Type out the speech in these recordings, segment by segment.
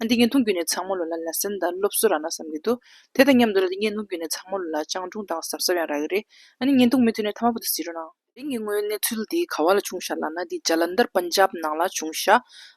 ཨ་འདི་ངས་མཐོང་རྒྱུ་ནས་ཚང་མོ་ལོ་ལ་ལ་སེམས་དང་སློབ་གསོ་རག་ན་བསམ་གྱི་འདུག་དེ་དང་མཉམ་དུ་ལ་འདི་ངས་མཐོང་རྒྱུ་ནས་ཚང་མོ་ལོ་ལ་སྤྱང་གྲུང་དང་གཟབ་གཟབ་ཡང་རག་གི་རེད་ཨ་ནི་ངས་མཐོང་མི་ཐུབ་ནས་ཐ་མ་པོ་ཏི་ཟེར་འགྲོ་གནང། དེ་ངས་དངོས་གནས་ཚུལ་འདི་ག་བ་ལ་བྱུང་ཤག་ལགས་ན་འདི་ཇ་ལ་འདར་པན་ཇབ་ནང་ལ་བྱུང་ཤག་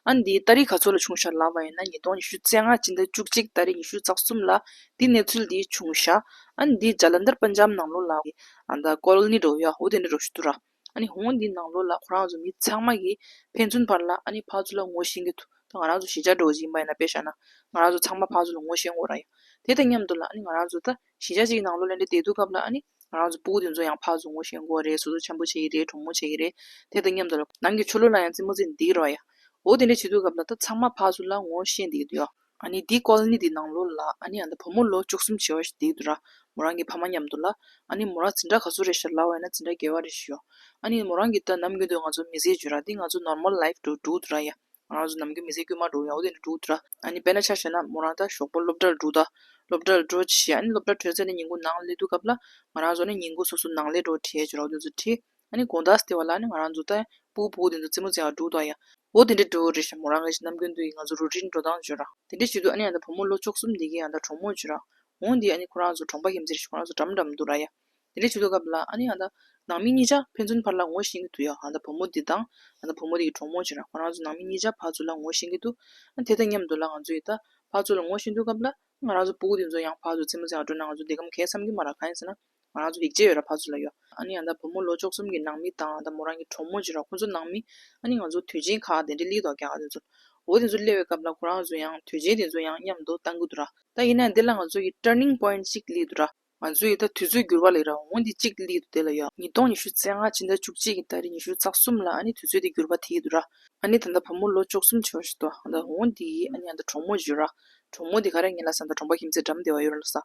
ཨ་འདི་ཨ་རི་ག་ཚོ་ལ་བྱུང་ཤག་ལགས་པ་ཡིན་ན་ཉིས་སྟོང་ཉི་ཤུ་རྩེ་ལྔ་སྤྱི་ཟླ་བཅུ་གཅིག་ད་རེས་ཉི་ཤུ་རྩ་གསུམ་ལ་འདི་གནས་ཚུལ་འདི་བྱུང་ཤག་ཨ་འདི་ཇ་ལ་འདར་པན་ཇབ་ནང་ལོ་ལ་ཨ་ད་ཀོ་ལ་ནི་རོ་ཡ་ཧོ་དེ་འདྲ་རོ་ཞུ་དུ་རག། ཧོང་འདིའི་ནང་ལོགས་ལ་ཁོ་རང་ཚོ་མི་ཚང་མ་གིས་ཕན་ཚུན་བར་ལ་ཕག་ཚུལ་ལ་ངོ་ཤེས་གི་འདུག་ད་ང་རང་ཚོ་གཞིས་ཆགས་འགྲོ་བ་ཞིག་ཡིན་པ་ཡིན་ན་དཔེ་བཞག་ན་ང་རང་ཚོ་ཚང་མ་ཕག་ཚུལ་ལ་ངོ་ཤེས་འོང་རང་ཡིན་དེ་དང་མཉམ་དུ་ལ་ང་རང་ཚོ་ད་གཞིས་ཆགས་གཅིག་གི་ནང་ལོགས་ལ་འདྲེ་དེ་འདུག་སྐབས་ལ་ང་རང་ཚོ་སྤུ་གུ་དེ་ཚོ་ཡང་ཕག་ཚུལ་ངོ་ཤེས་འགོ་བ་རེད་སོ་སོ་འཆམ་པོ་བྱེད་ཀྱི་རེད་གྲོགས་མོ་བྱེད་ཀྱི་རེད་དེ་དང་མཉམ་དུ་ལ་ནང་གི་ཆོ་ལོ་ལ་ཡང་རྩིད་མོ་རྩིད་འདི་གི་རོགས་ཡའོ་དེ་འདྲ་བྱེད་འདུག་སྐབས་ལ་ད་ཚང་མ་ཕག་ཚུལ་ལ་ངོ་ཤེས་འདི་གི་འདུག་ཡོ། ཨཱ་ནི་འདི་ཀོལ་ནི་འདི་ནང་ལོ་ལ་ཨཱ་ནི་ཨཱ་ད་བུ་མོ་ལོ་བཅུ་གསུམ་བྱེ་བ་ཞིག་དེའི་དུ་ར་མོ་རང་གི་ཕ་མ་མཉམ་དུ་ལ་ཨཱ་ནི་མོ་རང་ཛི་འདྲ་ག་ཚོད་རེ་ཞིག་ལ་བས་ན་ཛི་འདྲ་རྒྱལ་བ་རེ་ཞིག་ཡོད་ཨཱ་ནི་མོ་རང་གི་ད་ནམ་རྒྱུན་དུ་ང་ཚོ་མི་ཟས་བརྗོད་ར་འདི་ང་ཚོ normal life དུ་འགྲོ་གི་དུ་ར་ཡ་ང་རང་ཚོ་ནམ་རྒྱུན་མི་ཟས་རྒྱུན་མ་འགྲོ་ཡ་འོ་དེ་འདྲ་འགྲོ་གི་དུ་ར་ཨཱ་ནི་དཔེར་ན་ཆ་བྱས་ན་མོ་རང་ད་ཞོགས་པོ་སློབ་གྲྭར་འགྲོ་ད་སློབ་གྲྭར་འགྲོ་བྱས་ཨཱ་ནི་སློབ་གྲྭར་བྲོས་ཚེ་ནི་ཉིན་གུང་ནང་ལས་འདུག་སྐབས་ལ་ང་རང་ཚོ་ནི་ཉིན་གུང་སོ་སོ་ནང་ལས་འགྲོ་བྲས་བྱས་ར་འོ་དེ་ཚོ་བྲིས་ཨ་ནི་དགོངས་དག་སྟེར་བ་ལ་ནི་ང་རང་ཚོ་ཏཱའི་བུ་བོ་དེ་ཚོ་རྩེད་མོ་རྩེ་བར་འགྲོ་གདའ་ཡ། འོ་དེ་འདྲའི་འགྲོ་འོ་རེད་བཞག་མོ་རང་གིས་ནམ་རྒྱུན་དུ་ཡིས་ང་ཚོ་རུ་སྒྲིལ་འགྲོ་སྟངས་བརྗོད་ར། དེ་འདྲའི་བྱེད་དུས་ཨ་ནི་ཡང་ད་བུ་མོ་ལོ་བཅོ་གསུམ་འདས་ཀྱིས་ཡང་ད་གྲོགས་མོར་བྱོས་ར། འོང་དེས་ཨ་ནི་ཁོ་རང་ཚོ་གྲོང་པ་ཞིག་མཛེས་ཤིང་ཁོ་རང་ཚོ་འགྲམ་འགྲམ་འདུག་ར་ཡ། དེ་འདྲའི་བྱེད་དུས་སྐབས་ལ་ཨ་ནི་ཡང་ད། ནང་མི་གཉིས་ཆ་ཕན་ཚུན་བར་ལ་ངོ་ཤེས་ཀྱི་འདུག་ཡ། ཡང་ད་བུ་མོ་དེ་དང། ཡང་ད་བུ་མོ་དེ་ཀྱིས་གྲོགས་མོར་བྱོས་ར་ཁོ་རང་ཚོ་ནང་མི་གཉིས་ཆ་ཕར་ཚུར་ལ་ངོ་ཤེས་ཀྱི་འདུག་ཨ་དེ་དང་མཉམ་དུ་ལ་ང་ཚོ་ཡིས་ད། ཕར་ཚུར་ལ་ངོ་ཤེས་འདུག་སྐབས་ལ། ང་རང་ཚོ་བུ་བོ་དེ་ཚོ་ཡང་ཕར་ཚུར་རྩེད་མོ་རྩེ་བར་འགྲོ་ན་ང་ཚོ་འདི་གམ་གས་བསམ་གྱི་མ་ར་གང་ཡིན་ཟེར་ན། ང་རང་ཚོ་ཡིག་ཆས་ཡོད་ར་བ་ཚོ་ལ་ཡོད། ཨ་ནི་ཡང་ད་བུ་མོ་ལོ་ཅོག་གསུམ་གྱི་ནང་མི་དང་ད་མོ་རང་གི་གྲོགས་མོ་གཅིག་ར་ཁོང་ཚོ་ནང་མི། ཨ་ནི་ང་ཚོ་དུས་ཆེན་ཁག་དེ་འདྲའི་ལིས་ཏོག་རྒྱག་ག་དེ་ཚོ། འོ་དེ་ཚོ་སླེ་བའི་སྐབས་ལ་ཁོ་རང་ཚོ་ཡང་དུས་ཆེན་དེ་ཚོ་ཡང་མཉམ་དུ་གཏང་གི་འདུག་ར། ད་ཡིན་ནའང་དེ་ལ་ང་ཚོ་ཡི turning point ཅིག་ལིས་འདུག་ར། ང་ཚོ་ཡི་ད་དུས་ཚོད་འགྱུར་བ་ལིས་ར་འོང་དེ་ཅིག་ལིས་འདུག་དེ་ལ་ཡོད། ཉིས་སྟོང་ཉི་ཤུ་ཚེ་ལྔ་ཕྱི་ཟླ་བཅུ་གཅིག་གི་ད་རེས་ཉི་ཤུ་རྩ་གསུམ་ལ་ཨ་ནི་དུས་ཚོད་དེ་འགྱུར་བ་དེ་ཡི་འདུག་ར། ཨ་ནི་ད་ད་བུ་མོ་ལོ་ཅོག་གསུམ་ཆེ་བ་ཞིག་ཏུ་ད་འོང་དེ་ཡིས་ཨ་ནི་ཡང་ད་གྲོགས་མོ་བརྗོད་ར། གྲོགས་མོ་དེ་ག་རེ་ངེད་ལ་ཟ་ད་གྲོང་པ་ཁྱིམ་མཚེས་འགྲམ་དེ་བ་ཡོད་ར་ལ་ཟ།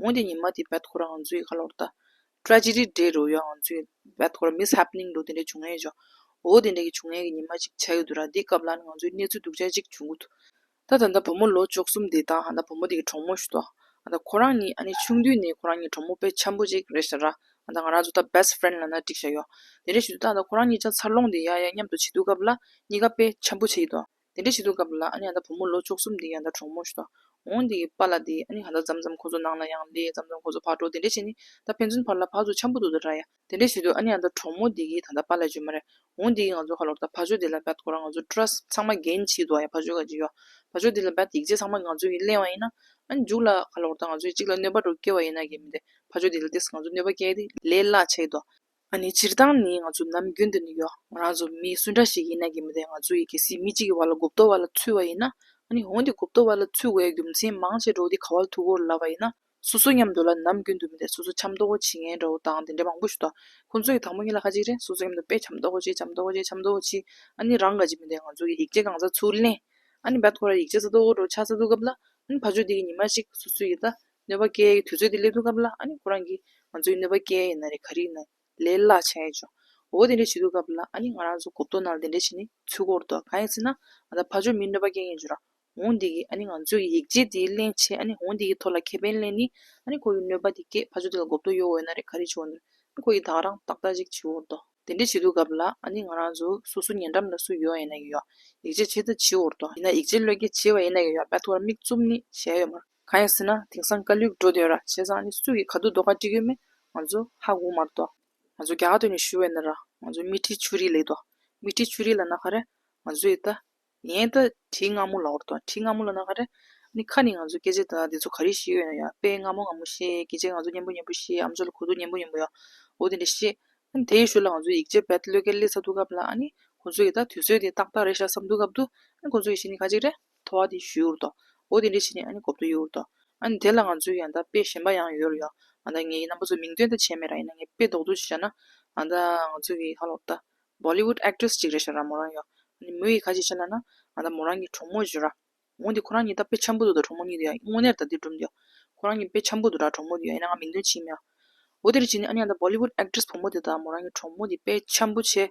ངོས་དེ་ཉིན་མ་དེ་བལ་ཐོ་ར་ང་ཚོའི་ཁ་ལོར་ལྟ། ཀྲ་ཅི་རི་འདྲའི་རོལ་ཡོད་ང་ཚོའི་བལ་ཐོ་ར་མིས་ཧབ་ནིང་འདུག་དེ་འདྲའི་བྱུང་ཡས་བྱུང། འོ་དེ་འདྲ་གི་བྱུང་ཡས་གི་ཉིན་མ་ཅིག་ཆགས་ཡོད་འདུག་ར་དེའི་སྐབས་ལ་ནི་ང་ཚོའི་གནས་ཚུལ་སྡུག་ཅག་ཅིག་བྱུང་གི་འདུག། ད་ད་ད་བུ་མོ་ལོ་བཅོ་གསུམ་དེ་དང་ཧ་ད་བུ་མོ་དེ་གི་གྲོགས་མོ་ཞུ་དོ། ཨ་ད་ཁོ་རང་གཉིས་ཨ་ནི་ཆུང་དུས་ནས་ཁོ་རང་གཉིས་གྲོགས་མོ་དཔེ་ཆ་པོ་ཅིག་རེད་ཤག་ར། ཨ་ད་ང་རང་ཚོ་ད best friend ལ་ན་འགྲིག་ཤག་ཡོད། དེ་འདྲ་ཞུ་དུས་ད་ད་ཁོ་རང་གཉིས་ཅག་འཚར་ལོངས་དེ་ཡ་ཡ་མཉམ་དུ་བྱེད་དུས་སྐབས་ལ་གཉིས་ཀ་དཔེ་ཆ་པོ་བྱེད་ཀྱི་འདུག། དེ་འདྲའི་བྱེད་དུ་བཀབ་ལ་ཨ་ན་བུ་མོ་ལོ་མཆོག་གསུམ་དེ་ཡང་ད་གྲོགས་མོ་ཞིག་དང་འོང་དེ་ཡི་པ་ལ་དེ་ཨ་ནི་ང་ད་ཙམ་ཙམ་ཁོ་ཚོ་ནང་ལ་ཡང་ལས་ཙམ་ཙམ་ཁོ་ཚོ་ཕར་འགྲོ་དེ་འདྲའི་བྱེད་ནི་ད་ཕན་ཚུན་ཕར་ལ་ཕར་ཚུར་འཆམ་པོ་འདུག་ད་ར་ཡ། དེ་འདྲའི་བྱེད་དུ་ཨ་ནི་ཡང་ད་གྲོགས་མོ་དེ་གིས་ད་ད་པ་ལས་བྱོས་མ་རེད་འོང་དེ་ཡིས་ང་ཚོ་ཁ་ལོར་ད་ཕ་ཆོས་དེ་ལ་བད་ཁོ་རང་ང་ཚོ་སྤྲོ་ར་ཚང་མ་འགན་ཆིག་འདུག་ཨ་ཡ་ཕ་ཆོས་ཁ་ཅིག་ཡོ་ཕ་ཆོས་དེ་ལ་བད་ཡིག་ཆ་ཚང་མ་ང་ཚོ་ཡིས་གླེང་བ་ཡིན་ན་ཨ་ནི་འཇུག་ལ་ཁ་ལོར་ད་ང་ཚོ་ཡིས་གཅིག་ལ་གནོད་པ་འགྲོ་སྐྱེ་བ་ཡིན་ན་འགན་མི་འདེད་ཕ་ཆོས་དེ་ལ་དེས་ང་ཚོ་གནོད་པ་སྐྱེལ་ཏེ་ལས་གླ་བྱེད་དོ། ང་ནི་སྤྱིར་བཏང་ནི་ང་ཚོ་ནམ་རྒྱུན་དུ་ནི་ཡོ་ང་རང་ཚོ་མི་སུ་འདྲ་ཞིག་ཡིན་ན་གི་མི་དེ་ང་ཚོ་ཡི་གེ་སི་མི་གཅིག་གི་བར་ལ་གོ་བསྡུར་བ་ལ་ཚུད་བ་ཡིན་ན་ནི་འོན་ཏེ་གོ་བསྡུར་བ་ལ་ཚུད་བའི་རྒྱུ་མཚན་མང་ཆེ་འགྲོ་དེ་ག་བར་ཐུག་གོ་ལབ་པ་ཡིན་ན་སོ་སོ་མཉམ་དུ་ལ་ནམ་རྒྱུན་དུ་མི་དེ་སོ་སོ་འཆམ་མདོག་གོ་བྱེད་མཁན་འདྲ་བོ་དང་དེ་འདྲ་མང་པོ་ཞིག་འདུག་ཁོང་ཚོ་ཡི་དང་པོ་གཉིས་ལ་ཁ་ཅིག་རེ་སོ་སོ་མཉམ་དུ་དཔེ་འཆམ་མདོག་གོ་བྱེད་འཆམ་མདོག་གོ་བྱེད་འཆམ་མདོག་གོ་བྱེད་ཨ་ནི་རང་དགར་གྱི་མི་དེ་ང་ཚོ་ཡི་ཡིག་ཆ་གང་ཟག་ཚུར་ལེན་ཨ་ནི་བད་ཐོ་ར་ཡིག་ཆ་ས་ཐོ་གོ་འགྲོ་ཆ་ས་ཐུག་སྐབས་ལ་ཨ་ནི་ཕ་ཆོས་དེ་གི་ཉི་མ་ཞིག་སོ་སོ་ཡི་ད་ནོད་པ་ཀྱལ་གྱི་དུས་ཚོད་དེ་སླེབས་དུས་སྐབས་ལ་ཨ་ནི་ཁོ་རང་གིས་ང་ཚོའི་ནོད་པ་ཀྱལ་ཡིན་ན་རེ་ག་རིག་ན་ལས་སླ་ཆ་ཡོད་ཅོ་འོ་དེ་འདྲས་བྱེད་དུས་སྐབས་ལ་ཨ་ནི་ང་རང་ཚོ་གོ་བསྡུར་ནང་ལ་དེ་འདྲས་བྱེད་ནི་ཚུལ་འཁོར་འདུག་གང་ཡིན་ཟེར་ན་ང་ད་ཕ་ཆོས་མིའི་ནོད་པ་ཀྱལ་ཡིན་ཅོ་རང་འོང་དེ་གིས་ཨ་ནི་ང་ཚོས་ཀྱི་ཡིག་ཆའི་དེའི་གླེང་བྱེད་ཨ་ནི་འོང་དེ་གིས་ཐོག་ལ་ཁེ་ཕན་གླེང་ནི་ཨ་ནི་ཁོ་གིས་ནོད་པ་དེ་ཀྱལ་ཕ་ཆོས་དེ་ལ་གོ་བསྡུར་ཡོད་འོས་ན་རེ་ག་རིག་བྱེད་འོ་ནི་ཁོ་གིས་དག་རང་ཏག་ཏག་ཅིག་བྱེད་འོ་འདུག་དེ་འདྲས་བྱེད་དུས་སྐབས་ལ་ཨ་ནི་ང་རང་ཚོ་སོ་སོ་ཉེ་འགྲམ་ལ་སུ་ཡོད་ཡིན་ན་ཡོད་ཡིག་ཆ་བྱེད་ད་བྱེད་འོ་འདུག་ཡིན་ན་ཡིག་ཆའི་བློས་ཀྱལ་བྱེད་པ་ཡིན་ན་ཡོད་ཡོད་པ་ཐོག་ལ་མིག་བཙུམ་ནི་བྱས་ཡོད་མ་རེད། གང་ཡང་སྲིད་ན་དེང་སང་ཀ་ལུས་འགྲོ་དོན་ར་བྱས་ཙང་ནི་སུ་ཡིས་ག་དུས་ལྡོག་ཁ་འགྲིག་ཡོད་མེད་ང་ཚོ་ཧ་གོ་མ་རུ་ང་ཚོ་རྒྱ་ག་དུས་ནས་ཞུ་བས་ན་ར་ང་ཚོ་སྨི་ཁྲིའི་ཆུ་རིས་ལེགས་སྨི་ཁྲིའི་ཆུ་རིས་ལ་ན་ག་རེ་ང་ཚོ་ཡི་ད་ཡན་ད་དྲི་སྔ་མོ་ལ་བོར་དང་དྲི་སྔ་མོ་ལ་ན་ག་རེ་ནི་ཁ་ནི་ང་ཚོ་སྐད་ཆ་ད་དེ་ཚོ་ག་རེ་ཞིག་ཡོད་ན་ཡ་དཔེ་སྔ་མོ་སྔ་མོ་བཤད་སྐད་ཆ་ང་ཚོ་སྙན་པོ་སྙན་པོ་བཤད་ཨམ་ཆོས་ལ་གོ་ཐུག་སྙན་པོ་སྙན་པོ་ཡ་འོ་དེ་འདྲ་བཤད་ཨ་ནི་དེའི་ཞོར་ལ་ང་ཚོ་ཡིག་ཆ་བེད་ཀློད་ཀའི་ལས་ཚ་ཐུག་སྐབས་ལ་ཨ་ནི་ཁོང་ཚོ་ཡི་ད་དུས་ཚོད་དེ་ཏག་ཏག་རེད་ཤག་བསམ་འདུག་སྐབས་དུ་ཨ་ནི་ཁོང་ཚོ་ཡི་ཤི་ནི་ག་ཅིག་རེད། ཐོ་བ་དེ་ཞུས་འུར་ཏོ། འོ་དེ་འདྲས་བྱས་ནས་ཨ་ནི་གོ་བསྡུར་ཡོད་འུར་ཏོ། ཨ་ནི་དེ་ལ་ང་ཚོས་ཡང་དག་དཔེ་གཞན་པ་ཡང་ཡོད་རོ་ཡོང། ཨ་ད་ངའི་རྣམ་པ་ཚོ་མིང་འདོན་ད་བྱས་མེད་ར་ཡིན་ན་ངས་དཔེ་ལྡོག་ལྡོག་ཅིག་བཞག་ན། ཨ་ད་ང་ཚོ་གི་ཧ་ལོག་ད། Bollywood Actress ཅིག་རེད་བཞག་ར་མོ་རང་ཡོང། ཨ་ནི་མོ་ཡིས་ག་ཅིག་བྱས་ན་ན། ཨ་ད་མོ་རང་གི་གྲོགས་མོ་བརྗོད་ར། འོ་དེ་ཁོ་རང་གཉིས་ད་དཔེ་འཆམ་པོ་འདུག་ད་གྲོགས་མོ་གཉིས་དེ་ཡང་དངོས་གནས་ད་དེ་སྒྲུབ་འདོད། ཁོ་རང་གཉིས་དཔེ་འཆམ་པོ་འདུག་ར་གྲོགས་མོ་དེ་ཡང་ཡིན་ན་ང་མིང་འདོན་བྱེད་མི་ཡོང། འོ་དེ་འདྲས་བྱས་ནས་ཨ་ནི་ཨ་ད Bollywood Actress བུ་མོ་དེ་དང་མོ་རང་གི་གྲོགས་མོ་དེ་དཔེ་འཆམ་པོ་བྱས།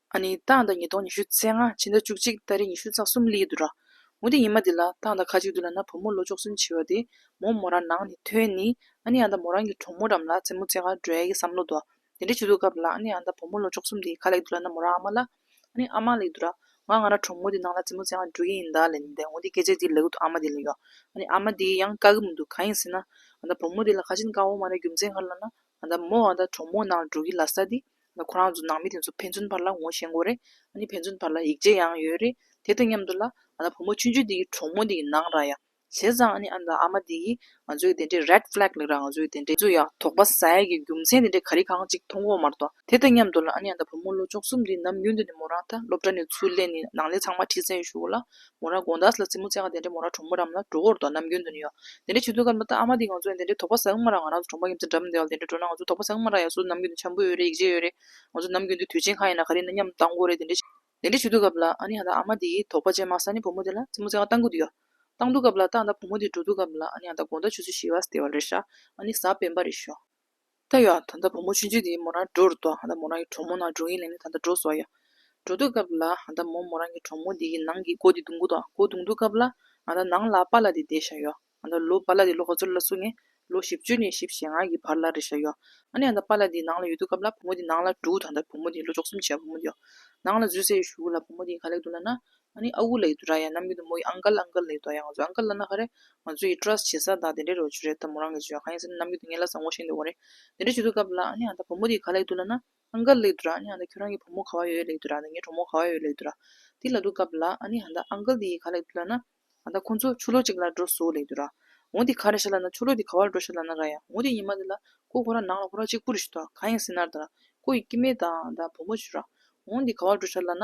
ཨ་ནི་ཏང་དང་ཉིས་སྟོང་ཉི་ཤུ་ཚེས་ལྔ་ཕྱི་ཟླ་བཅུ་གཅིག་ཏཱ་རེ་ཉི་ཤུ་རྩ་གསུམ་གླིང་དུ་ར་མོ་དེ་ཉི་མ་དེ་ལ་ཏང་དང་ཁ་གཅིག་ཏུ་ལ་ན་བུ་མོ་ལོ་བཅོ་གསུམ་བྱི་བ་དེ་མོ་མོ་ར་ནང་ནས་ཐོན་ནི་ཨ་ནི་ཨ་མདའ་མོ་རང་གི་གྲོགས་མོ་རམ་ལ་རྩེ་མོ་རྩེ་ག་འགྲོ་ཡ་གི་བསམ་བློ་དོ་དེ་འདྲ་བྱི་འདུག་སྐབས་ལ་ཨ་ནི་ཨ་མདའ་བུ་མོ་ལོ་བཅོ་གསུམ་དེ་ག་ལེགས་འདུག་ལ་ན་མོ་ར་ཨ་མ་ལ་ཨ་ནི་ཨ་མ་ལེགས་འདུག་ར་ང་ང་ར་གྲོགས་མོ་དེ་ནང་ལ་རྩེ་མོ་རྩེ་ག་འགྲོ་གི་ཡིན་ད་ལན་དེ་འོ་དེ་སྐད་ཆ་དེ་ལ་གུ་དོ་ཨ་མ་དེ་ལ་ཡོ་ཨ་ནི་ཨ་མ་དེ་ཡང་དཀའ་གི་མི་འདུག་གང་ཡིན་ཟེར་ན་ཨ་མདའ་བུ་མོ་དེ་ལ་ཁ་ཆེན་དཀའ་བོ་མ་རེད་རྒྱུ་མཚན་ག་རེ་ལ་ན་ཨ་ད་མོ་ཨ་ད་གྲོགས་མོ་ནང་ལ་འགྲོ་གི་ལ་ས་དེ། ཁོ་རང་ཚོ་ནང་མི་དེ་ཚོ་ཕན་ཚུན་བར་ལ་ངོ་ཤེས་མགོ་རེད། ཨ་ནི་ཕན་ཚུན་བར་ལ་ཡིག་ཆ་ཡང་ཡོད་རེད། དེ་དང་མཉམ་དུ་ལ། ཨ་ད་བུ་མོ་ཆུང་ཆུང་དེ་གི་གྲོགས་མོ་དེ་གི་ནང་ར་ཡ། བྱས་ཙང་ཨ་ནི་ཨ་ད་ཨ་མ་དེ་གི། ང་ཚོའི་དེ་འདྲའི red flag ལེགས་ར་ང་ཚོའི་དེ་འདྲའི། ཚོ་ཡག་དོག་པ་ཟ་ཡ་གི་རྒྱུ་མཚན་དེ་འདྲའི་ག་རི་གང་གཅིག་མཐོང་གོ་མ་རྟོག། དེ་དང་མཉམ་དུ་ལ་ཨ་ནི་ཨ་ད་བུ་མོ་ལོ་བཅོ་གསུམ་དེ་ནམ་རྒྱུན་དུ་ནི་མོ་རང་ད་སློབ་གྲྭ་ནས་ཚུར་ལེན་ནི་ནང་ལས་ཚང་མ་ཁྲིད་ཙན་ཞུ་གོ་ལ། མོ་ར་དགོངས་དག་ལ་རྩེད་མོ་རྩེ་གང་དེ་འདྲའི་མོ་ར་གྲོང་མོ་རམ་ལ་འགྲོ་གོར་དང་ནམ་རྒྱུན་དུ་ནི་ཡོད། དེ་འདྲའི་ཆུ་ཚོད་སྐར་མ་ལྟར་ཨ་མ་དེ་ང་ཚོ་ཡང་དེ་འདྲའི་དོག་པ་ཟ་གི་མ་ར་ང་རང་ཚོ་གྲོང་པ་ཡིན་ཚེ་འགྲམ་དེའོ་དེ་འདྲའི་འགྲོ་ན་ང་ཚོ་དོག་པ་ཟ་གི་མ་ར་ཡ་སུ་ནམ་རྒྱུན་དུ་འཆམ་པོ་ཡོད་རེད་ཡིག་ཆས་ཡོད་རེད། ང་ཚོ་ནམ་རྒྱུན་དུ་དུས་ཆེན་གང་ཡིན་ན་ག་རེ་ནི་མཉམ་དུ་བཏང་གོ་རེད་དེ་འདྲའི། དེ་འདྲའི་ཆུ་ཚོད་སྐབས་ལ་ཨ་ནི་ཧ་ད་ཨ་མ་དེའི་དོག་པ་ཅན་མ་ས་ནི་བུ་མོ་དེ་ལ་རྩེད་མོ་རྩེ་གང་བཏང་གི་འདུག་ཡ། བཏང་འདུག་སྐབས་ལ་ཏག་ད་བུ་མོ་དེ་འགྲོ་འདུག་སྐབས་ལ་ཨ་ནི་ཧ་ད་དགོངས་དག་ཆུ་ཚོད་བཞི་བ་སྟེ་བ་རེད་ཧྲ། ཨ་ནི་གཟའ་སྤེན་པ་རེད་ཞོ། ད་ཡོད་ད་ལྟ་བུ་མོ་ཆུང་ཆུང་དེ་མོ་རང་འགྲོ་རུ་འདུག་ད་མོ་རང་གི་གྲོགས་མོ་ནང་འགྲོ་གིན་ལེན་ནི་ད་ལྟ་འགྲོ་སོང་ཡ། འགྲོ་འདུག་སྐབས་ལ་ང་ད་མོ་མོ་རང་གི་གྲོགས་མོ་དེ་གི་ནང་གི་སྒོ་དེ་རྡུང་གི་འདུག་སྒོ་རྡུང་འདུག་སྐབས་ལ་ང་ད་ནང་ལ་པཱ་ལ་དེ་བསྡད་བཞག་ཡོད། ང་ད་ལོ་པཱ་ལ་དེ་ལོ་ག་ཚོད་ལ་སོང་ངས་ལོ་བཞི་བཅུ་ནས་བཞི་བཞི་ལྔ་གི་བར་ལ་རེད་བཞག་ཡོད། ཨ་ནི་ང་ད་པཱ་ལ་དེ་ནང་ལ་ཡོད་འདུག་སྐབས་ལ་བུ་མོ་དེ་ནང་ལ་འགྲོ་འདུག་ད་ལྟ་བུ་མོ་དེ་ལོ་བཅོ་གསུམ་བྱས་བུ་མོ་དེ་ཡོད། ནང་ལ་བཟོད་བསྲན་ཞུ་གི་ལ་བུ་མོ་དེ་ག་ལེགས་འདུག་ལ་ན། ཨ་ནི་ཨ་ཨུ་ལ་ཡི་དུ་ར་ཡ་ནམ་གི་དུ་མོ་ཡི་ཨང་ག་ལ་ཨང་ག་ལ་ཡི་དོ་ཡ་ང་ཚོའི་ཨང་ག་ལ་ན་ཧ་རེ། ང་ཚོ་ཡི trust བྱེད་ས་དག་དེ་འདྲའི་རེ་བ་བྱུ་རེད་ད་མོ་རང་གི་བྱུ་ཡ་གང་ཡིན་ཟེར་ན་ནམ་གི་དུ་ངའི་ལ་བཟང་བོ་ཤེས་འདོད་བོ་རེད། དེ་འདྲ་བྱུ་དུ་གབ་ལ་ཨ་ནི་ཨ་ད་བུ་མོ་དེ་ག་ལ་ཡི་དུ་ལ་ན། ཨང་ག་ལ་ཡི་དུ་ར་ཨ་ནི་ཨ་ད་ཁྱོད་རང་གི་བུ་མོ་ག་བ་ཡོད་ཡོད་ལ་ཡི་དུ་ར་ད་ངའི་གྲོགས་མོ་ག་བ་ཡོད་ཡོད་ལ་ཡི་དུ་ར། དེ་ལ་དུ་གབ་ལ་ཨ་ནི་ཨ་ད་ཨང་ག་ལ་དེ་ཡི་ག་ལ་ཡི་དུ་ལ་ན། ཨ་ད་ཁོ་ཚོ་ཆུ་ལོག་ཅིག་ལ་འགྲོ་སོ་ལ་ཡི་དུ་ར། འོ་དེ་ག་རེ་བྱ་ལ་ན་ཆུ་ལོག་དེ་ག་བ་ལ་འགྲོ་བྱ་ལ་ན་ར་ཡ་འོ་དེ་ཉི་མ་དེ་ལ། ཁོ་ཁོ་རང་ནང་ལ་ཁོ་རང་གཅིག་པུ་རུ་བྱུ་དོ་གང་ཡིན་ཟེར་ན་ར་ད་ར། ཁོ་ཡི་སྐྱི་མེད་དང་ད་བུ་མོ་བྱུ་ར། འོ་དེ་ག་བ་ལ་འགྲོ་བྱ་ལ་ན།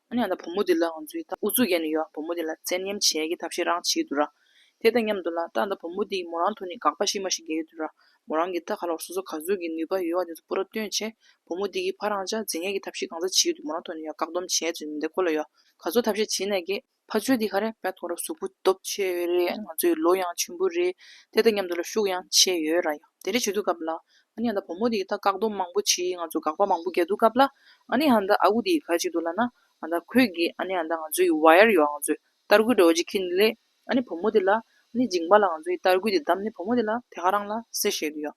ཨ་ནེ་ཡང་ད་བུ་མོ་དེ་ལ་ང་ཚོའི་ད་ཨུ་ཚུགས་ཡེ་ནས་ཡོད་ཨ་བུ་མོ་དེ་ལ་བཙན་གཉེམ་བྱེད་ཀྱི་ཐབས་ཤེས་རང་བྱེད་ཀྱི་འདུག་ར། དེ་དང་མཉམ་དུ་ལ་ད་ད་བུ་མོ་དེའི་མོ་རང་ཐུགས་ནས་དགག་པ་ཤི་མ་ཤི་འགལ་གྱི་འདུག་ར། མོ་རང་གིས་ད་ག་ལོར་སོ་སོ་ག་ཚོད་ཀྱི་ནུས་པ་ཡོད་བ་དེ་ཚོ་པུ་ར་སྟོན་ཆེད་བུ་མོ་དེ་གིས་ཕ་རང་ཅག་རྫིག་ངན་གྱི་ཐབས་ཤེས་གང་ཟག་བྱེད་ཀྱི་འདུག་མོ་རང་ཐུགས་ནས་ཡ་བཀག་སྡོམ་བྱས་ཚོད་མི་འདེ་ཁོ་ལ་ཡ་ག་ཚོད་ཐབས་ཤེས་བྱེད་ནས་གི། ཕ་ཚོད་དེ་ག་རེ་བད་ཐོག་ར་གཟུགས་པོ་སྟོབས་ཆེ་བས་རེད་ང་ཚོའི་ལོ་ཡང་ཆུན་པོ་རེད་དེ་དང་མཉམ་དུ་ལ་ཤུགས་ཡང་ཆེ་ཡོད་ར་ཡ། དེ་རེ་བྱེད་དུ་སྐབས་ལ་ཨ་ནི་ཧན་ད་བུ་མོ་དེ་ད་བཀག་སྡོམ་མང་པོ་བྱེད་ང་ཚོ་དགག་པ་མང་པོ་རྒྱག་འདུག་སྐབས་ལ་ཨ་ནི་ཧན་ད་ཨ་ཁུ་དེ་ག་ཅིག་འདུག་ལ་ན་ཨ་ད་ཁོས་གི་ཨ་ནི་ཧན་ད་ང་ཚོ་ཡི་བྷ་ཡར་ཡོད་ང་ཚོས་གཏར་གུ་འདྲ་བོ་ཅིག་ཁྱེར་འདུག་ལས་ཨ་ནི་བུ་མོ་དེ་ལ་ཨ་ནི་འཇིང་པ་ལ་ང་ཚོ་ཡི་གཏར་གུ་དེ་བདམས་ནས་བུ་མོ་དེ་ལ་དེ་ག་རང་ལ་སེ་བཤད་འདུག་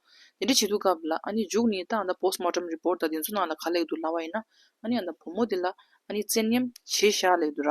ཡ་དེ་འདྲ་བྱེད་འདུག་སྐབས་ལ་ཨ་ནི་མཇུག་ནི་ད་ཨ་ད་བོས་མོ་ཏྲམ་རི་པོར་ད་དེ་ཚོ་ནང་ལ་ག་ལེགས་འདུག་ལ་བ་ཡིན་ན་ཨ་ནི་ཨ་ད་བུ་མོ་དེ་ལ་ཨ་ནི་བཙན་གཉེམ་བྱེད་བཞག་ལེགས་འདུག་ར་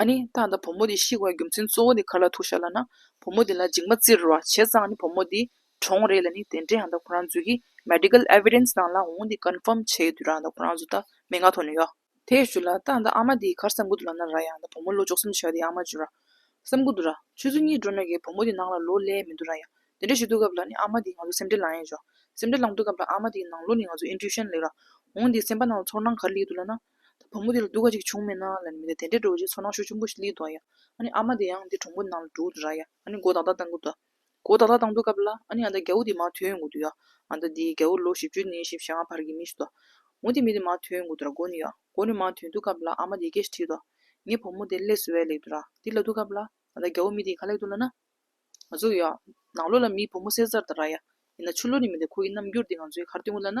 ཨ་ནི་ད་ལྟ་བུ་མོ་དེ་ཤི་བའི་རྒྱུ་མཚན་གཙོ་བོ་ནི་ག་ལ་ཐུག་བཤད་ལ་ན། བུ་མོ་དེ་ལ་འཇིགས་མ་བཙིར་བ་བྱས་ཙང་ནི་བུ་མོ་དེ་གྲོངས་རེད་ལ་ནི་དེ་འདྲའི་ཡང་ད་ཁོ་རང་ཚོས་ཀྱི Medical Evidence ནང་ལ་འོང་དེ Confirm བྱས་དུས་རང་ད་ཁོ་རང་ཚོ་ད་མན་ངག་ཐོག་ནས་ཡོད། དེ་ཞུ་ལ་ད་ད་ཨ་མ་དེའི་གར་སེམས་ཁུར་དུ་ལ་ན་ར་ཡང་ད་བུ་མོ་ལོ་ཅོག་སུམ་ཆ་ཡོད་དེ་ཨ་མ་ཅུ་ར། སེམས་ཁུར་དུ་ར། ཆུ་ཚོད་གཉིས་འགྲོ་ནས་ཀྱི་བུ་མོ་དེ་ནང་ལ་ལོ་ལས་མི་འདུག་ར་ཡང་དེ་འདྲ་ཞུ་དུས་སྐབས་ལ་ནི་ཨ་མ་དེའི་ང་ཚོ་སེམས་ཁྲལ་ལངས་ཡས་ཆོག་སེམས་ཁྲལ་ལངས་དུས་སྐབས་ལ་ཨ་མ་དེའི་ནང་ལོ་ནི་ང་ཚོ Intuition ལེགས་ར། འོང་དེ་སེམས་པ་ནང་ལ་ཚོར་སྣང་ག་རེ་ལེགས་འདུག་ལ་ན། ད་བུ་མོ་དེ་ལ་སྡུག་ག་ཅིག་བྱུང་མེད་ན། ལན་མི་དེ་དེ་འདྲའི་འགྲོ་བ་ཆེ་ཚོ་ནང་ཤོད་ཆུང་པོ་ཞིག་ལི་འདུག་ཨ་ཡ། ཨ་ནི་ཨ་མ་དེ་ཡང་དེ་གྲོང་པོ་ནང་ལ་འདུག་ར་ཡ། ཨ་ནི་མགོ་ཏག་ཏག་བཏང་གི་འདུག། མགོ་ཏག་ཏག་བཏང་འདུག་སྐབས་ལ། ཨ་ནི་ཨ་ད་རྒྱ་བོ་དེ་མ་ཐོན་ཡོང་གི་འདུག་ཡ། ཨ་ད་དེ་རྒྱ་བོ་ལོ་བཞི་བཅུ་ནས་བཞི་བྱེ་ལྔ་བར་གྱི་མི་ཞིག་འདུག། མོ་དེ་མི་དེ་མ་ཐོན་ཡོང་གི་འདུག་ར་མགོ་ནི་ཡ། མགོ་ནི་མ་ཐོན་འདུག་སྐབས་ལ་ཨ་མ་དེ་སྐད་ཞིག་ཁྲིད་འདུག། ངའི་བུ་མོ་དེ་ལས་སུ་བས་ལེགས་འདུག་ར། དེ་ལ་འདུག་སྐབས་ལ། ཨ་ད་རྒྱ་བོ་མི་དེ་ག་ལེགས་འདུག་ལ་ན། ང་ཚོ་ཡ། ནང་ལོགས་ལ་མིའི་བུ་མོ་བསད་ཚར་ད་ར་ཡ། ཡིན་ན་ཆུ་ལོག་ནི་མི་འདུག་ཁོ་ཡི་རྣམ་འགྱུར་དེ་ང་ཚོའི་གར་སྟོན་གི་ལ་ན།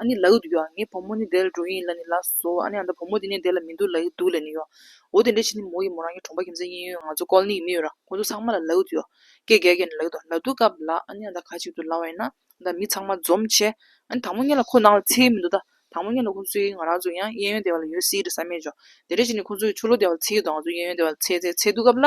ཨ་ནི་ལགས་འདུག་ག་ངའི་བུ་མོ་ནི་བསྡད་ལ་འགྲོ་ཡིན་ལ་ནི་ལགས་སོ་སོ་ཨ་ནི་ཨ་ད་བུ་མོ་དེ་ནི་བསྡད་ལ་མི་འདུག་ལགས་འདུག་ལ་ནི་ཡོའོ་དེ་འདྲའི་ཕྱིར་ནི་མོ་ཡིན་མོ་རང་གི་གྲོང་པ་ཁྱིམ་མཚེས་གཉིས་ཡོའོ་ང་ཚོ་ཀོལ་ནི་ཡི་མི་ཡོའོ་ར་ཁོ་ཚོ་ཚང་མ་ལ་ལགས་འདུག་ཡོའོ་ཀེ་རྒྱལ་རྒྱལ་ནི་ལགས་འདུག་ལ་འདུག་ག་ལགས་ཨ་ནི་ཨ་ད་ཁ་ཅིག་ཏུ་ལ་བས་ན་ཨ་ད་མི་ཚང་མ་འཛོམས་ཆེ་ཨ་ནི་དང་པོ་གཉིས་ལ་ཁོ་ནང་ལ་ཚེ་ཡི་མི་འདུག་ད་དང་པོ་གཉིས་ལ་ཁོ་ཚོ་ཡིས་ང་རང་ཚོ་ཡང་གཡས་གཡོན་སྡེ་བ་ལ་ཡོའོ་སི་ཡི་རེ་ས་མེད་འཇོ་དེ་འདྲའི་ཕྱིར་ནི་ཁོ་ཚོ་ཡིས་ཆུ་ལོ་སྡེ་བ་ལ་ཚེ་ཡོད་དོ་ང་ཚོ་གཡས་གཡོན་སྡེ་བ་ལ་ཚེ་ཚེ་ཚེ་འདུག་ག་ལ།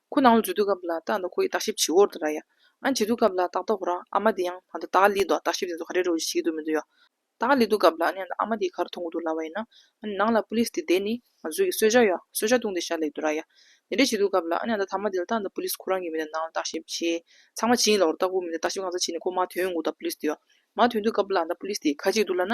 ཁོའི་ནང་ལ་འཇུ་དུས་སྐབས་ལ་ཏག་ཏག་ཁོ་ཡིས་བརྟག་ཞིབ་བྱེད་འོར་དུ་ར་ཡ། ཨ་འཇུ་དུས་སྐབས་ལ་ཏག་ཏག་ཧུ་ར་ཨ་མ་དེ་ཡང་ད་ལྟ་ཏཱ་ལའི་འདུག་བརྟག་ཞིབ་དེ་ཚོ་ག་རེ་རེ་བཞིན་བྱེད་ཀྱི་འདུག་མི་འདུག་ཡ། ཏཱ་ལའི་འདུག་སྐབས་ལ་ཨ་ནི་ཨ་མ་དེའི་ཁར་མཐོང་གི་འདུག་ལ་བ་ཡིན་ན། ཨ་ནི་ནང་ལ་པུ་ལིས་དེ་བསྡད་ནས་ང་ཚོའི་གི་གསོལ་ཇ་ཡ། གསོལ་ཇ་བཏུང་དེ་ཤར་ལེགས་འདུག་ར་ཡ། དེ་འདྲས་བྱེད་དུས་སྐབས་ལ་ཨ་ནི་ད་ཐ་མ་དེ་ལ་ཏག་ཏག་པུ་ལིས་ཁོ་རང་གི་མི་དེ་ནང་ལ་བརྟག་ཞིབ་བྱེད། ཚང་མ་བྱེད་ཡིན་ལ་འོར་ཏག་པུ་མི་དེ་བརྟག་ཞིབ་གང་ས་བྱེད་ནས་ཁོ་མ་ཐོན་གི་འདུག་ད་པུ་ལིས་དེ་ཡ། མ་ཐོན་དུས་སྐབས་ལ་ད་པུ་ལིས་དེའི་ཁ་ཅིག་འདུག་ལ་ན།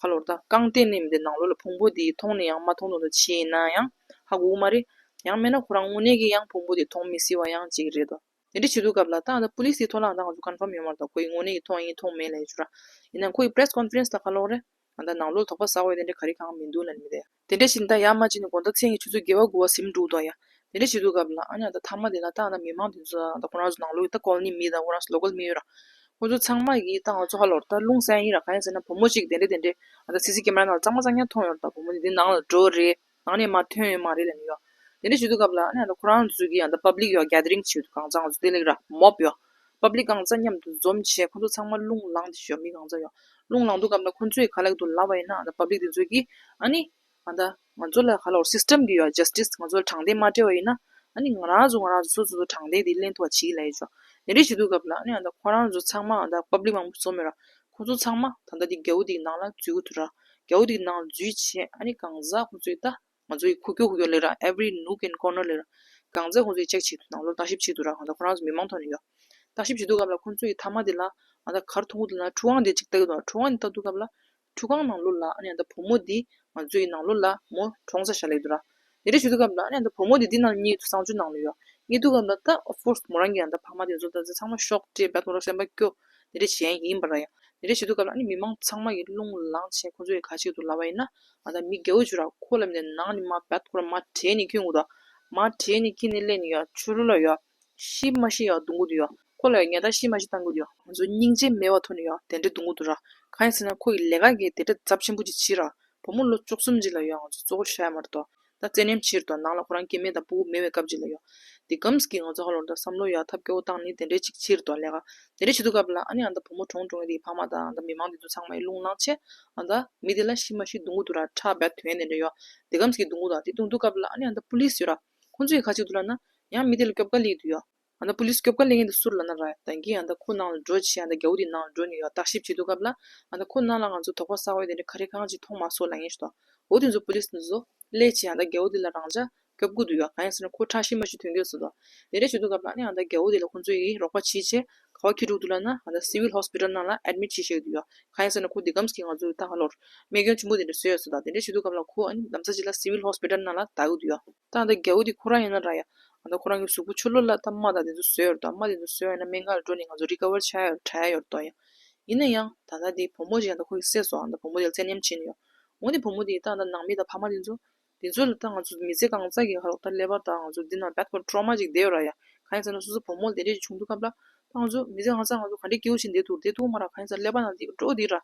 ཧ་ལོར་ད་རྐང་གཏན་ནས་མི་བདེ་ནང་ལོགས་ལ་ཕུང་པོ་དེ་མཐོང་ནས་ཡང་མ་མཐོང་དོན་དུ་ཕྱིན་ཡིན་ན་ཡང་ཧ་གོ་གི་མ་རེད། ཡང་མེད་ན་ཁོ་རང་དངོས་གནས་ཀྱིས་ཡང་ཕུང་པོ་དེ་མཐོང་མི་སྲིད་བ་ཡང་གཅིག་རེད་དོ། དེ་འདྲ་བྱེད་དུས་སྐབས་ལ་ད་ལྟ Police དེའི་ཐོག་ལ་ང་ཚོ Confirm ཡོད་མ་རེད་དོ་ཁོ་ཡིས་དངོས་གནས་ཀྱིས་མཐོང་ཡིན་མཐོང་མེད་ལས་ཅོ་ར། ཡིན་ན་ཁོ་ཡི Press Conference ལ་ཁ་ལོག་རེད། ད་ནང་ལོགས་ལ་དོགས་པ་ཟ་འོས་དེ་འདྲ་ག་རེ་གང་མི་འདུག་ལ་ནི་མི་བདེ། དེ་འདྲ་ཞིག་ད་ཡར་མ་བྱས་ནས་གོང་ད་མཚན་གྱི་ཆུ་ཚོད་བརྒལ་བ་དགུ་བ་སེམས་འཁྲུག་འདུག་ཡ། དེ་འདྲ་ཞིག་འདུག་གམ། ལ་ཨ་ཉག་ད་ཐ་མ་དེ་ལ་ཏང་དང་མི་མང་དེ་ཚོ་ད་ཁོ་རང་ཚོ་ནང་ལོག་གི་ད་ཀོལ་ནི་མི་དང་ཁོ་རང་ཚོ་ལོ་ཀོལ་མི་ཡོད་ར། ཁོ་ཚོ་ཚང་མ་གིས་ཏང་ལ་ཚོ་ཧ་ལོ་ར་ད་ལུང་བསན་ཡིན་ར་ག་ཡིན་ཟེར་ན་བུ་མོ་ཞིག་གིས་དེ་འདྲ་དེ་འདྲའི་ཨ་ད་སི་སི་ཀེ་མ་ར་ནང་ལ་གཙང་མ་གཙང་ཉག་མཐོང་ཡོང་ར་ད་བུ་མོ་དེ་འདི་ནང་ལ་འགྲོ་རེ་ནང་ནས་མ་ཐོན་ཡོད་མ་རེད་ལ་ནི་ཡ། དེ་འདྲ་ཞིག་འདུག་གམ། ལ་ཨ་ཉག་ད་ཁོ་རང་ཚོ་གིས་ཨ་ད་པབ་ལིག་ཡ་ག་ག་དེ་རིང་བྱས་ཡོད་དུ་གང་བཙང་ཚོ་དེ་ལེགས་ར་མོབ་ཡ། པ་པི་ལི་གང་རྩ་མཉམ་དུ་འཛོམས་བྱས་ཁོ་ཚོ་ཚང་མ་རླུང་ལངས་ཏེ་ཞོ་མི་གང་རྩ་ཡོང། རླུང་ལངས་འདུག་སྐབས་ན་ཁོ་ཚོས་ག་ལ་ཡོད་དུ་ལབ་པ་ཡིན་ན་པ་པི་ལི་དེ་ཚོས་ཀྱིས་ཨཱ་ནི། ཨ་ད། ང་ཚོ་ལ་ག་ལ་འོར System གི་ཡོད Justice ང་ཚོ་ལ་དྲང་བདེན་མ་སྤྲད་པ་ཡིན་ན། ཨཱ་ནི། ང་རང་ཚོ་ང་རང་ཚོ་སོ་སོ་སོ་དྲང་བདེན་དེ་གླེང་ཐུབ་པ་བྱེད་ཀྱི་ལ་ཡོད་ཆོག་དེ་འདྲ་བྱེད་འདུག་སྐབས་ལ་ཨཱ་ནི་ཨ་ད་ཁོ་རང་ཚོ་ཚང་མ་ཨ་ད་པ་པི་ལི་མང་པོ་འཛོམས་ཡོད་ར། ཁོ་ཚོ་ཚང་མ་ད་ལྟ་དེ་རྒྱ་བོ་དེ་གི་ནང་ལ་འཛུལ་གི་འདུག་ར། རྒྱ་བོ་དེ་གི་ནང་ལ་འཛུལ་བྱས་ཨཱ་ནི་གང་རྩ་ཁོ་ཚོས་ད། ང་ཚོ་ཡི་ཁུ་ཁྱུ་ཁུ་ཁྱུ་ལེ་ར every nook and corner ལེ་ར་གང་མཛད་ཁོང་ཚོ་ཡི་ཅེག་བྱེད་ནང་ལོག་བརྟག་ཞིབ་བྱེད་དུ་ར་གང་ལྟ་ཁོ་རང་ཚོ་མི་མང་ཐོག་ནས་ཡོ་བརྟག་ཞིབ་བྱེད་དུ་སྐབས་ལ་ཁོང་ཚོ་ཡི་ཐ་མ་དེ་ལ་ང་ད་གར་ཐུག་དུ་ན་ཁྲུ་ཁང་དེ་ཅིག་བལྟ་གི་འདུག་ཁྲུ་ཁང་དེ་བལྟ་དུ་སྐབས་ལ་ཁྲུ་ཁང་ནང་ལོག་ལ་ཨ་ནི་ཨ་ད་བུ་མོ་དེ་ང་ཚོ་ཡི་ནང་ལོག་ལ་མོ་གྲོང་ས་ཞ་ལེགས་དུ་ར་དེ་འདྲ་བྱེད་དུ་སྐབས་ལ་ཨ་ནི་ཨ་ད་བུ་མོ་དེ་དེ་ནང་གཉིད་དུ་གསང་སྤྱོད་ནང་ལོ་ཡོ་གཉིད་དུ་སྐབས་ལ་ད of course མོ་རང་གི་ཨ་ད་ཕ་མ་དེ་ཚོ་ད་ཚང་མ་ཤོག་ཅེས་བལྟ་དུ་ར་སེམས་པ་སྐྱོ་དེ་འདྲ་བྱེད་ཡ་ཡིན་པ་ར་ཡ་དེ་འདྲ་བྱེད་དུ་སྐབས་ལ་ཨ་ནི་མི་མང་ཚང་མ་ཡི་རླུང་ལངས་བྱེད་ཁོང་ཚོ་ཡི་ག་ཅིག་དུ་ལ་བ་ཡིན་ན་ང་དང་མི་དགེ་བ་བཅུ་ར་ཁོ་ལ་མནན། ནང་ནི་མ་བད་ཐོག་ལ་མ་བྲེས་ནི་ཁྱི་ངུ་དོ། མ་བྲེས་ནི་ཁྱི་ནི་གླེན་ནི་ཡོ། ཆུ་རུལ་ལ་ཡོ། ཤི་མ་ཤི་ཡོ་དུང་གུ་དུ་ཡོ། ཁོ་ལ་ཡོ་ཉལ་ད་ཤི་མ་ཤི་ཐང་གུ་དུ་ཡོ། ང་ཚོ་སྙིང་རྗེ་མེད་བ་ཐོ་ནི་ཡོ་དེ་འདྲ་དུང་གུ་དུ་ར། གང་ཡིན་ཟེར་ན་ཁོ་ཡི་ལས་ཀ་གི་དེ་འདྲ་རྫབ་ཆེན་པོ་ཅིག་བྱི་ར། བུ་མོ་ལོ་བཅུ་གསུམ་ཅིག་ལ་ཡོ་ང་ཚོ་གཙོ་བོ་ཤ་ཡ་མར་དོ། ད་བཙན་གནས་ཕྱིར་དང་ནང་ལ་ཁོ་རང་སྐྱེ་མེད་དང་སྤུ་བོ་མེད་བའི་སྐབས་གཅིག་ལ་ཡོང། དེ་སྒམས་ཀྱིས་ང་ཚོ་ཧ་ལོ་འདྲ་བསམ་བློ་ཡར་ཐབས་སྐྱོ་བོ་བཏང་ནི་དེ་འདྲའི་ཅིག་ཕྱིར་དང་ལས་ཀ། དེ་འདྲ་བྱེད་དུ་སྐབས་ལ་ཨ་ནེ་ཨ་མདའ་བུ་མོ་གྲོང་གྲོང་གི་དེའི་ཕ་མ་དང་ཨ་མདའ་མི་མང་དེ་ཚོ་ཚང་མ་ཡི་རླུང་ལངས་ཆེད་ཨ་མདའ། མི་དེ་ལ་ཤི་མ་ཤི་འདུག་མགོ་དུ་ར་ཁྲག་འབའ་དོན་དེ་འདྲ་ཡོད། དེ་སྒམས་ཀྱིས་འདུག་མགོ་དང་དེ་བཏུང་འདུག་སྐབས་ལ་ཨ་ནེ་ཨ་མདའ་པུ་ལིས་ཡོད་ར། ཁོང་ཚོ་ཡི་ཁ་གཅིག་ཏུ་ལ་ན། ཡང་མི་དེ་ལ་སྐྱོབ་ག་ལི་དུ་ཡོད། ཡང་ན Police སྐྱོབ་ག་ལེ་ངན་དུ་སུར་ལ་ན་ར་ད་གིན་ཡང་ད་ཁོ་ནང་ལ་འགྲོ་ཆེ་ཡང་ད་རྒྱ་བོ་དེ་ནང་ལ་འགྲོ་ནི་ཡོད་བརྟག་ཞིབ་བྱེད་འདུག་གབ་ལ་ཡང་ད་ཁོ་ནང་ལ་ང་ཚོ་དོག་པ་ས་འོད་དེ་འདྲ་ག་རེ་གང་ཅིག་མཐོང་མ་སོགས་ལ་ངན་ཞུ་ད་འོ་དེ་ཚོ Police འདི་ཚོ་ལས་ཆེ་ཡང་ད་རྒྱ་བོ་དེ་ལ་རང་ཅག་སྐྱོབ་དགོས་འདུག་ཡོད་གང་ཡང་ཟེར་ན་ཁོ་ཁྲག་ཤི་མ་ཤི་དོན་གྱོད་ཟེར་དོག་དེ་འདྲ་བྱེད་འདུག་གབ་ལ་ཡང་ད་རྒྱ་བོ་དེ་ལ་ཁོ་ཚོ་ཡིས་རོགས་པ་བྱེད་ཆེ་ག་བ་ཁྱི་དྲུག་འདུག་ལ་ན་ཡང་ད Civil Hospital ནང་ལ Admit བྱེད་ཤེས་གི་འདུག་ཡོད་གང་ཡང་ཟེར་ན་ཁོ་དེ་གམས་ཀྱིས་ང་ཚོ་ད་ག་ལོར་རྨས་སྐྱོན་ཆེན་པོ་དེ་འདྲ་བཟོས་ཡོད་ཟེར་དོག་དེ་འདྲ་བྱེད་འདུག་གབ་ལ་ཁོ་ཨ་ནི་གདམ་ས་ཅིག་ལ Civil Hospital ནང་ལ་ད་གི་འདུག་ཡོད། ད་ཡང་ད་རྒྱ་བོ་དེ་ཁོ་རང་ཡིན་ན་ར་ཡང་ང་ད་ཁོ་རང་གི་གཟུགས་པོ་ཆུ་ལོག་ལ་ཐ་མ་དག་དེ་ཚོ་བཟོས་ཡོད་དོ་དམ་མ་དེ་ཚོ་བཟོས་ཡོད་ན་མན་ངག་ལ་འགྲོ་ནས་ང་ཚོ་རི་ཁ་བར་ཆགས་ཡོད་དྲན་ཡོད་དོ་ཡང། ཡིན་ན་ཡང། ད་ལྟ་དེ་བུ་མོ་ཞིག་ཡང་ད་ཁོ་གི་སྲས་སོའང་ད་བུ་མོ་དེ་ལ་བཙན་ཉམས་བྱིན་ཡོད། འོན་ཏེ་བུ་མོ་དེའི་ད་ད་ནང་མི་དང་ཕ་མ་དེ་ཚོ། དེ་ཚོ་ལ་ད་ང་ཚོ་མི་ཚེ་གང་ཙག་གི་ཧ་རོགས་ད་སླེབས་པ་ད་ང་ཚོ་འདི་ན back to trauma ཅིག་བསྡད་ཡོད་ར་ཡ། གང་ཡིན་ཟེར་ན་སོ་སོ་བུ་མོ་ལ་དེ་འདྲས་ཅིག་བྱུང་འདུག་སྐབས་ལ། ད་ང་ཚོ་མི་ཚེ་གང་ཙག་ང་ཚོ་ག་འདྲའི་སྐྱིད་བོ་ཞིག་འདས་འདུག་འདས་འདུག་མ་ར་གང་ཡིན་ཟེར་སླེབས་པ་ན་དེ་འགྲོ་འདི་ར།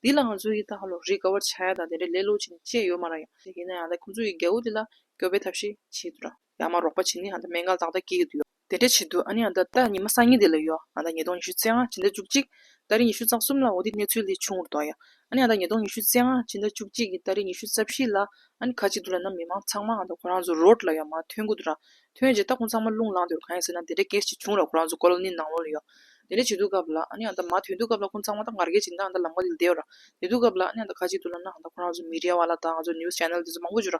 འདི་ལ་ང་ཚོ་ཡི་ད་ཧ་ལོ་རི་ཁ་བར་ཆགས་ཡོད་ད་དེ་འདྲས་ལེ་ལོ་ཅིག་ནས་བཅད་ཡོད་མ་ར་ཡ། ཡིན་ན་ཡང་ད་ཁོ་ཚོ་ཡི་རྒྱལ་བོ་དེ་ལ་སྐྱོབ་པའི་ཐབས་ཤེས་བྱེད་འདུག་ར། ཡང་མ་རོགས་པ་བྱིན་ནི་ཨ་མདའ་མན་ངག་བདག་ལྟ་སྐྱེས་ཀྱི་དུས། དེ་འདྲས་བྱེད་དུས་ཨ་ནི་ཨ་མདའ་ད་ཉི་མ་སང་ཉིན་དེ་ལ་ཡོད་ཨ་མདའ་ཉིས་སྟོང་ཉི་ཤུ་རྩེ་ལྔ་ཕྱི་ཟླ་བཅུ་གཅིག་ད་རེས་ཉི་ཤུ་རྩ་གསུམ་ལ་འོ་དེ་གནས་ཚུལ་ལས་ཆུང་ངུར་དོགས་ཡ་ཨ་ནི་ཨ་མདའ་ཉིས་སྟོང་ཉི་ཤུ་རྩེ་ལྔ་ཕྱི་ཟླ་བཅུ་གཅིག་གི་ད་རེས་ཉི་ཤུ་རྩ་བཞི་ལ་ཨ་ནི་ཁ་ཅིག་ཏུ་ལ་ནམ་མི་མང་ཚང་མ་ཨ་མདའ་ཁོ་རང་ཚོ་རོལ་ལ་ཡང་མ་ཐོན་གི་དུ་ར་ཐོན་རྗེས་ད་ཁོང་ཚང་མ་རླུང་ལངས་དུས་གང་ཡིན་ཟེར་ན་དེ་འདྲས་གལ་ཆེ་ཆུང་ར་ཁོ་རང་ཚོ་ཀོལ་ནི་ནང་ལོག་ལ་ཡོད་དེ་འདྲས་བྱེད་དུས་སྐབས་ལ་ཨ་ནི་ཨ་མདའ་མ་ཐོན་དུས་སྐབས་ལ་ཁོང་ཚང་མ་ད་ངར་སྐད་ཅིག་མདའ་ཨ་མདའ་ལམ་ཀ་དེ་ལ་བསྡད་ར་བསྡད་དུས་སྐབས་ལ་ཨ་ནི་ཨ་མདའ་ཁ་ཅིག་ཏུ་ལ་ནང་ད་ཁོ་རང་ཚོ་མི་རེ་བ་ལ་ད་ང་ཚོ news channel དེ་ཚོ་མང་པོ་བརྗོད་ར་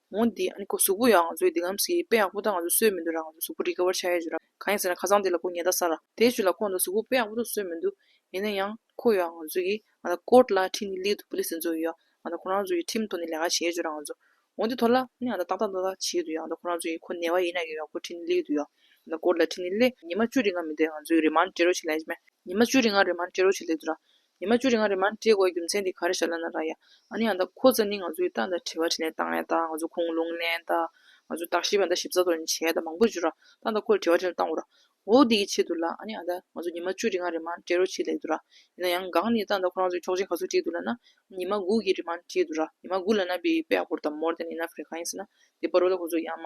འོ་འདི་ཨ་ནི་ཁོ་གཟུགས་པོ་ཡང་ང་ཚོའི་འདི་ངམ་སི་དཔེ་ཡག་པོ་དག་ང་ཚོས་གསོད་མི་འདུག་ར་ང་ཚོའི་གཟུགས་པོ་རིག་ག་བར་བྱ་ཡ་ཞུ་ར་གང་ཡིན་ཟེར་ན་ཁ་སང་དེ་ལ་ཁོ་ཉལ་ད་ས་ར་དེ་ཞུ་ལ་ཁོ་ང་ཚོའི་གཟུགས་པོ་དཔེ་ཡག་པོ་དག་གསོད་མི་འདུག་ཡིན་ན་ཡང་ཁོ་ཡང་ང་ཚོ་གིས་ང་ད་ཀོར་ལ་ཁྲིམས་ནི་ལིའི་དུ་པོ་ལི་སི་འཛོ་ཡོ་ཡ་ང་ད་ཁོ་རང་ཚོ་གིས་ཁྲིམས་ཐོག་ནས་ལས་ཀ་བྱེད་ཞུ་ར་ང་ཚོ་འོ་འདི་ཐོ་ལ་ཨ་ནི་ང་ད་ཏག་ཏག་ཏག་ཏག་བྱེད་དུ་ཡ་ང་ད་ཁོ་རང་ཚོ་གིས་ཁོ་ནལ་བ་ཡིན་ན་ཡོ་ཡ་ཁོ་ཁྲིམས་ནི་ལིའི་དུ་ཡོ་ཡ་ང་ད་ཀོར་ལ་ཁྲིམས་ནི་ལི་ཉི་མ་བཅུ་རི་ང་མི་འདེད་ང་ཚོའི་རི་མ་འདྲེ་རོ་བྱེད་ལས་ཅི་མ་ཉི་མ་བཅུ་རི་ང་རི་མ་འདྲེ་རོ་བྱེད་ལས་དུ་ར་ཉི་མ་བཅུ་རེ་ལྔ་རེ་མར་འདྲེས་དགོས་རྒྱུ་མཚན་དེ་ག་རེ་ཤར་ལ་ན་ར་ཡ། ཨ་ནི་ཨ་ད་ཁོ་ཚ་ནི་ང་ཚོའི་ཏང་དང་དྲི་བ་དྲིས་ནས་ཏང་ལེན་དང་ང་ཚོ་ཁུངས་ལུང་ལེན་དང། ང་ཚོའི་བརྟག་ཞིབ་བ་དང་ཞིབ་ཚགས་དོར་བྱས་དང་མང་པོ་བྱུ་ར། ཏང་དང་ཁོ་ལ་དྲི་བ་དྲིས་ན་ཏང་འོ་ར། འོ་འདི་གི་ཆེད་དུ་ལ་ཨ་ནི་ཨ་ད་ང་ཚོ་ཉི་མ་བཅུ་རེ་ལྔ་རེ་མར་འདྲེས་རོགས་བྱེད་ལེགས་འདུག་ར། ཡིན་ན་ཡང་འགངས་ནི་ཏང་དང་ཁོ་རང་ཚོའི་ཆོག་མཆན་ག་ཚོད་བྲིས་འདུག་ལ་ན། ཉི་མ་དགུ་གི་རེ་མར་བྲིས་འདུག་ར། ཉི་མ་དགུ་ལ་ན་པའི་པའི་ཧོར་དང་མོར་དང་ནི་ན་ཧྥི་རི་ཁ་ཡིན་ཟེར་ན། དེ་པར་རོ་ད་ཁོ་ཚོ་ཡ་མ།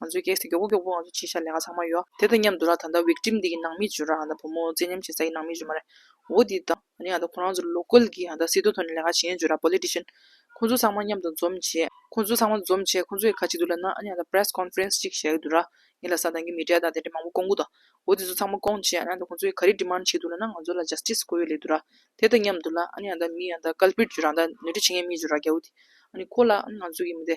ང་ཚོའི་སྐྱེས་སུ་མགྱོགས་པོ་མགྱོགས་པོ་ང་ཚོ་ཕྱིར་ཤར་ལས་ཀ་ཚང་མ་ཡོད། དེ་དང་མཉམ་དུ་ར་ད་ལྟ Victim འདི་ཀྱི་ནང་མི་བྱོས་ར་ང་ད་བུ་མོ་བཙན་ཉམས་བྱེད་ས་ཀྱི་ནང་མི་བྱོས་མ་རེད། འོ་དེ་དང། ང་ནི་ང་ད་ཁོ་རང་ཚོར་ལོ་སྐོལ་གྱིས་ང་ད་སྲིད་དོ་ཐོ་ནས་ལས་ཀ་བྱེད་ཡན་བྱོས་ར Politician། ཁོ་ཚོ་ཚང་མ་མཉམ་དུ་འཛོམས་བྱས། ཁོ་ཚོ་ཚང་མ་འཛོམས་བྱས་ཁོ་ཚོའི་ཁ་གཅིག་ཏུ་ལབ་ན་ཨ་ནི་ང་ད Press Conference གཅིག་བྱས་ཀྱི་འདུག་ར། ངས་ལ་ས་དང་གི་མི་གྲལ་དང་དེ་འདྲས་མང་པོ་བསྐོང་གི་འདུག་འོ་དེ་ཚོ་ཚང་མ་བསྐོང་བྱས་ཨ་ནི་ང་ད་ཁོ་ཚོའི་ག་རེ Demand བྱེད་འདུག་ལ་ན་ང་ཚོ་ལ Justice དགོས་ཡོད་ལེ་འདུག་ར། དེ་དང་མཉམ་དུ་ལ་ཨ་ནི་ང་ད་མི་ང་ད Culprit བྱོས་ར་ང་ད་ནུས་འདྲི་བྱེད་མཁན་མི་བྱོས་ར་རྒྱལ་བོ་དེ། ཨ་ནི་ཁོ་ལ་ཨ་ནི་ང་ཚོ་གི་མི་དེ།